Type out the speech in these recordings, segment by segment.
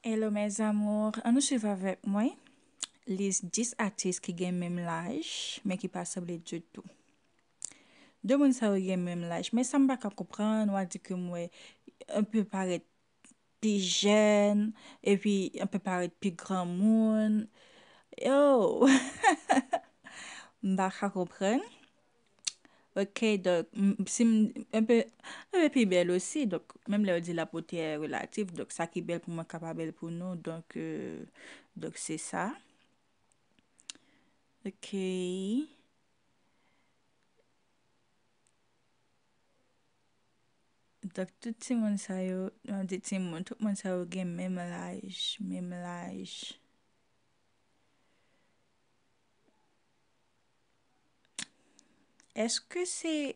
Hello mes amours an nou swiv avèk mwen lis 10 atis ki gen menm laj men ki pa sanble ditou 2 moun sa yo gen menm laj men sam paka konprann wap di ke mwen yon peu parèt pi jèn epi yon peu parèt pi granmoun oh m paka konprann. Ok donk si m un peu un peu pi bèl osi donk menm lè yo di la beauté est relative donk sa ki bèl pou mwen ka pa bèl pou nou donk donk se sa ok donk tout timoun sa yo m ap di timoun tout moun sa yo gen menm laj menm laj. Eske se,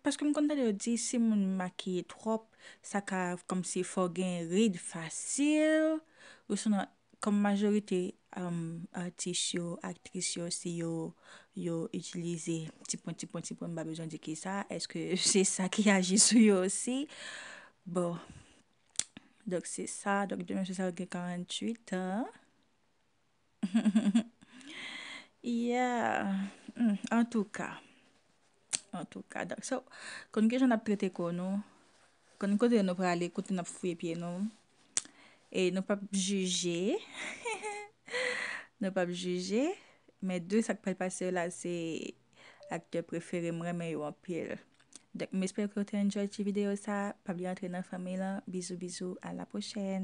paske m konn tande yo di si moun makiye twòp, sa ka kòmsi fè w gen rid fasil, osinon kòm majorite atis yo, aktris yo se yo, yo itilize ti pwen, ti pwen, ti pwen, m pa bezwen di ki sa, eske se sa ki aji sou yo osi? Bon, donk se sa, donk demen se sa ou gen 48 an. Yeah Antouka Antouka So Konn kijan nap trete kò nou Konn kote nou prale Kote nap fouye pye nou E nou pap jije Hehe Nou pap jije Men de sak pral pase yo la se Aktè prefere m renmen yo anpil donk m espere ke w te enjoy ti video sa pa bliye antre nan fanmiy lan bizou bizou a la prochèn.